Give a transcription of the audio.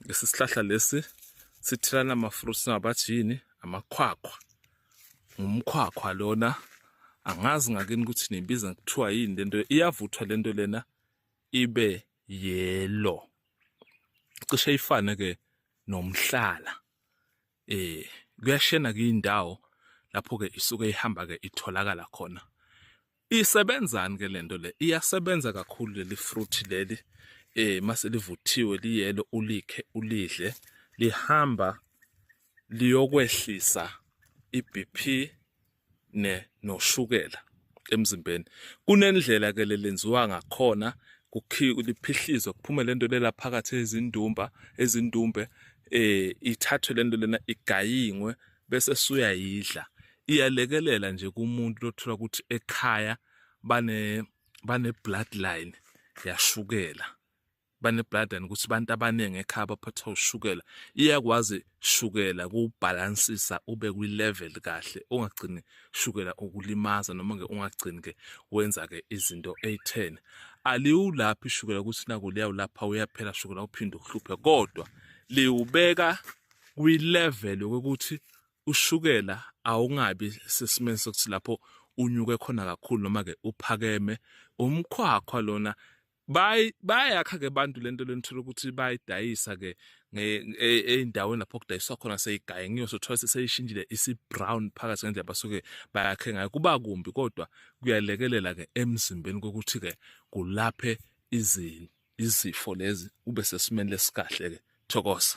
lesi sihlahla lesi sithelana ama-fruits ngabathi yini amakhwakhwa ngumkhwakhwa lona angazi ngakini ukuthi nibiza kuthiwa yini lento iyavuthwa lento lena ibe yellow cishe ifane ke nomhlala eh kuyashena kuyindawo lapho ke isuke ihamba ke itholakala khona isebenzani ke lento le iyasebenza kakhulu leli fruit leli eh mase livuthiwe liyelo ulikhe ulidle lihamba liyokwehlisa iBP ne noshukela emzimbeni kunendlela ke lelenziwa ngakhona kuphihlizwa kuphume lento lela phakathi ezindumba ezindumbe eh ithathwe lento lena igayingwe bese suyayidla iyalekelela nje kumuntu lothola ukuthi ekhaya bane bane bloodline yashukela banebladana ukuthi abantu abaningi ekhaya baphethwe ushukela iyakwazi shukela kubhalansisa ube kwi-level kahle ungagcini shukela ukulimaza noma ke ungagcini ke wenza ke izinto eyi-10 aliwulaphi ishukela ukuthi naku liyawulapha uyaphela shukela uphinde uhluphe kodwa liwubeka kwi-level yokuthi ushukela awungabi sesimeni sokuthi lapho unyuke khona kakhulu noma ke uphakeme umkhwakhwa lona bayakha ke abantu lento lenithola ukuthi bayidayisa ke eyindaweni e, lapho kudayiswa khona seyigaye ngiyo sothola seseyishintshile isi-brown phakathi ngendlela basuke bayakhe ngayo kuba kumbi kodwa kuyalekelela ke emzimbeni kokuthi ke kulaphe izifo lezi ube sesimeni lesikahle ke thokoza